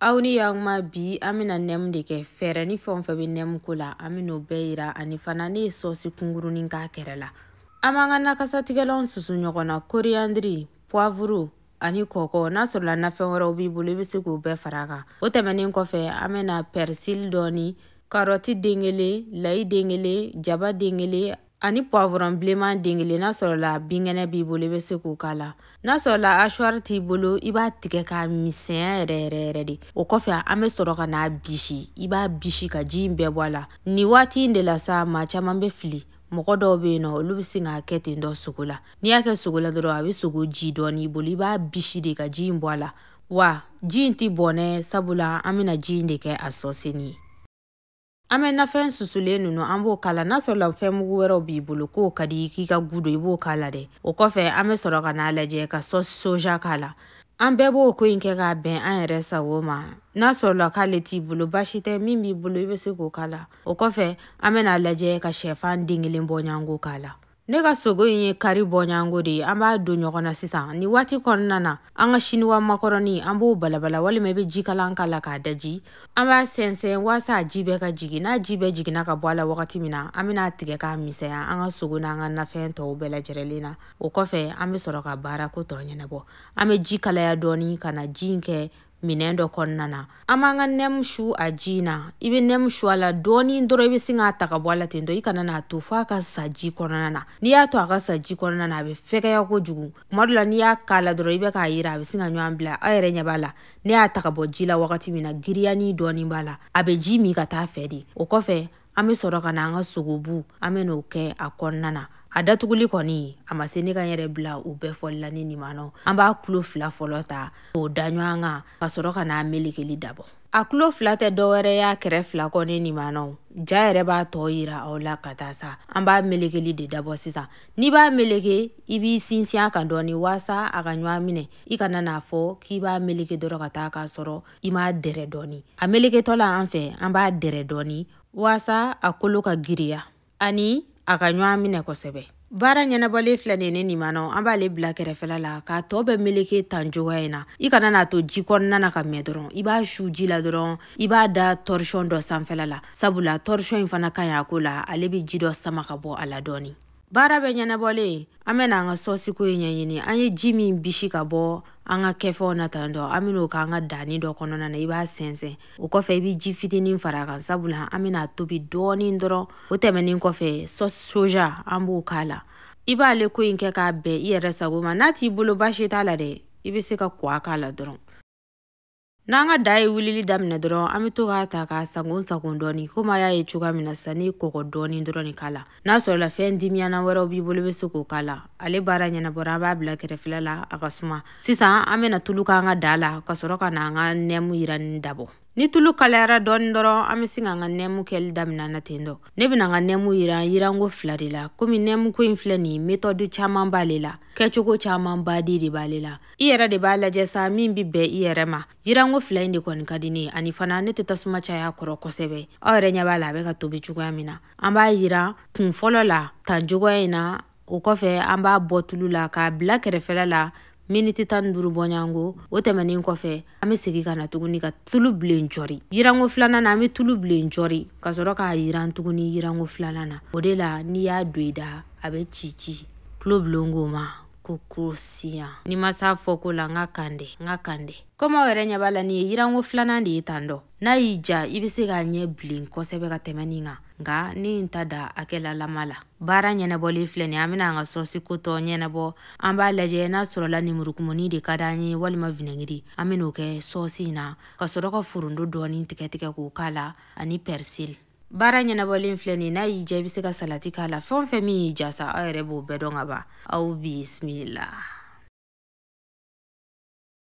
aw ni yaguma bi an bɛna nɛmu de kɛ fɛɛrɛ ni fɛn o fɛn bɛ nɛmu ko la an bɛn'o bɛɛ yira ani fana ne ye sɔsi kunkurunin k'a kɛrɛ la an b'an ka nakasatigɛlanw susu ɲɔgɔn na koriyandiri puwavuru ani kɔkɔ n'a sɔrɔla nafɛn wɛrɛw b'i bolo i bɛ se k'o bɛɛ fara a kan o tɛmɛnen kɔfɛ an bɛna pɛrisili dɔɔni karɔti den kelen layi den kelen jaba den kelen ani puwavurɔn bilenman den kelen n'a sɔrɔla binkɛnɛ b'i bolo i bɛ se k'o k'a la n'a sɔrɔla ashwari t'i bolo i b'a tigɛ k'a misɛnya yɛrɛ yɛrɛ yɛrɛ de o kɔfɛ an bɛ sɔrɔ ka n'a bisi i b'a bisi ka ji in bɛɛ bɔ a la nin waati in de la sa maa caman bɛ fili mɔgɔ dɔw bɛ yen nɔ olu bɛ sin k'a kɛ ten dɔ sogo la n'i y'a kɛ sogo la dɔrɔn a bɛ sogo ji don i bolo i b'a bisi de ka ji in bɔ a la wa ji in tɛ bɔn dɛ sabula an bɛna ji in de kɛ a sɔsinin ye an bɛ nafɛn susulen ninnu an b'o k'a la n'a sɔrɔla fɛn mugu wɛrɛw b'i bolo k'o ka di k'i ka gu don i b'o k'a la dɛ o kɔfɛ an bɛ sɔrɔ ka n'a lajɛ ka sɔsi soja k'a la an bɛɛ b'o ko in kɛ k'a bɛn an yɛrɛ sago ma n'a sɔrɔla k'ale t'i bolo baasi tɛ min b'i bolo i bɛ se k'o k'a la o kɔfɛ an bɛn'a lajɛ ka shɛfan den kelen bɔɲɔgɔnko k'a la ne ka sogo in ye kari bɔɲɔgɔnko de ye an b'a don ɲɔgɔn na sisan nin waati kɔnɔna na an ka siniwa makɔrɔni an b'o balabala walima i bɛ jikalan k'a la k'a daji an b'a sɛnsɛn waasa a ji bɛɛ ka jigin n'a ji bɛɛ jiginna ka bɔ a la wagati min na an bɛna a tigɛ k'a misɛnya an ka sogo n'an ka nafɛn tɔw bɛɛ lajɛrɛlen na o kɔfɛ an bɛ sɔrɔ ka baarako tɔ ɲɛnabɔ an bɛ ji kalaya dɔɔni ka na ji in kɛ minɛn dɔ kɔnɔna na an b'an ka nɛmu su a ji na i bɛ nɛmu su a la dɔɔni dɔrɔn i bɛ sin k'a ta ka bɔ a la ten tɔ i kana n'a to f'a ka sa ji kɔnɔna na n'i y'a to a ka sa ji kɔnɔna na a bɛ fɛgɛya kojugu kuma dɔ la n'i y'a k'a la dɔrɔn i bɛ k'a yiran a bɛ sin ka ɲɔgɔn bila aw yɛrɛ ɲɛ b'a la ne y'a ta ka bɔ ji la wagati min na giriyanin dɔɔni b'a la a bɛ ji min ka t'a fɛ de o kɔfɛ an bɛ sɔrɔ ka na an ka sogobu an bɛ n'o kɛ a kɔnɔna na a datuguli kɔni a ma se ne ka n yɛrɛ bila u bɛɛ fɔli la ne nimanaw an b'a tulo fila fɔlɔ ta k'o da ɲɔgɔn kan ka sɔrɔ ka n'a melekeli dabɔ a tulo fila tɛ dɔwɛrɛ y'a kɛrɛ fila kɔ ne nimanaw ja yɛrɛ b'a tɔ yira aw la ka taa sa an b'a melekeli de dabɔ sisan n'i b'a meleke i b'i sinsin a kan dɔɔni waasa a ka ɲɔgɔn minɛ i kana n'a fɔ k'i b'a meleke dɔrɔn ka taa k'a sɔrɔ i m'a dɛrɛ dɔɔni a meleketɔ la an fɛ an b'a dɛrɛ dɔɔni waasa a kolo ka giriya ani a ka ɲɔgɔn minɛ kosɛbɛ baara ɲɛnabɔlen filɛ nin ne nimanaw an b'ale bila kɛrɛfɛla la k'a tɔ bɛɛ meleke tan cogoya in na i kana n'a to ji kɔnɔna na ka mɛɛn dɔrɔn i b'a su ji la dɔrɔn i b'a da tɔrisɔn dɔ sanfɛla la sabula tɔrisɔn in fana ka ɲi a ko la ale bɛ ji dɔ sama ka bɔ a la dɔɔni baara bɛɛ ɲɛnabɔlen an bɛna an ka sɔsiko in ɲɛɲini an ye ji min bisi ka bɔ an ka kɛfɛnw na tan dɔ an bɛn'o k'an ka daganin dɔ kɔnɔna na i b'a sɛnsɛn o kɔfɛ i bɛ ji fitinin fara a kan sabula an bɛn'a tobi dɔɔnin dɔrɔn o tɛmɛnen kɔfɛ sɔsi soja an b'o k'a la i b'ale ko in kɛ k'a bɛn i yɛrɛ sago ma n'a t'i bolo baasi t'a la dɛ i bɛ se ka kɔgɔ k'a la dɔrɔn n'an ka da ye wulili daminɛ dɔrɔn an be to k'a ta k'a sagon sagon dɔɔni komi a y'a ye cogoya min na sisan ne ye kɔgɔ dɔɔni dɔrɔn de k'a la n'a sɔrɔla fɛn dimiyana wɛrɛw b'i bolo i be se k'o k'a la ale baara ɲɛnabɔra an b'a bila kɛrɛfɛla la a ka suma sisan an bena tulu k'an ka daa la ka sɔrɔ ka na an ka nɛmu yirani dabɔ ni tulu kalayara dɔɔni dɔrɔn an be sin k'an ka nɛmu kɛli daminɛ na ten dɔ ne bena n ka nɛmu yiran yiranko fila de la komi nɛmuko in filɛ nin metɔdu caaman b'ale la kɛcogo caaman baden de b'ale la i yɛrɛ de b'a lajɛ sa min be bɛn i yɛrɛ ma yiranko fila in de kɔni ka di ne ye ani fana ne tɛ tasuma caya kɔrɔ kosɛbɛ aw yɛrɛ ɲɛ b'a la a bɛ ka tobi cogoya min na an b'a yiran kun fɔlɔ la tan cogoya in na o kɔfɛ an b'a bɔ tulu la k'a bila kɛrɛfɛla la miniti tan ni duuru bɔɲango o tɛmɛnin kɔfɛ an bɛ segin ka na tuguni ka tulu bilen jɔri yiranko filanan na an bɛ tulu bilen jɔri ka sɔrɔ k'a yiran tuguni yiranko filanan na o de la n'i y'a don i da a bɛ ci ci tulobilen k'o ma ko croustillant ni n ma s'a fɔko la n ka kan tɛ n ka kan tɛ komi aw yɛrɛ ɲɛ b'a la nin ye yiranko filanan de ye tan dɔ n'a y'i ja i bɛ se k'a ɲɛ bilen kosɛbɛ ka tɛmɛ nin kan nka ne ye n ta da hakɛlalama la baara ɲɛnabɔlen filɛ nin an bɛna an ka sɔsi ko tɔ ɲɛnabɔ an b'a lajɛ n'a sɔrɔla nemurukumuni de ka d'an ye walima vinɛgiri an bɛn'o kɛ sɔsi in na ka sɔrɔ ka foronto dɔɔni tigɛtigɛ k'o k'a la ani pɛrisili baara ɲɛnabɔlen filɛ nin n'a y'i ja i bɛ se ka salati k'a la fɛn o fɛn min y'i ja sa aw yɛrɛ b'o bɛɛ dɔn ka ban aw bisimila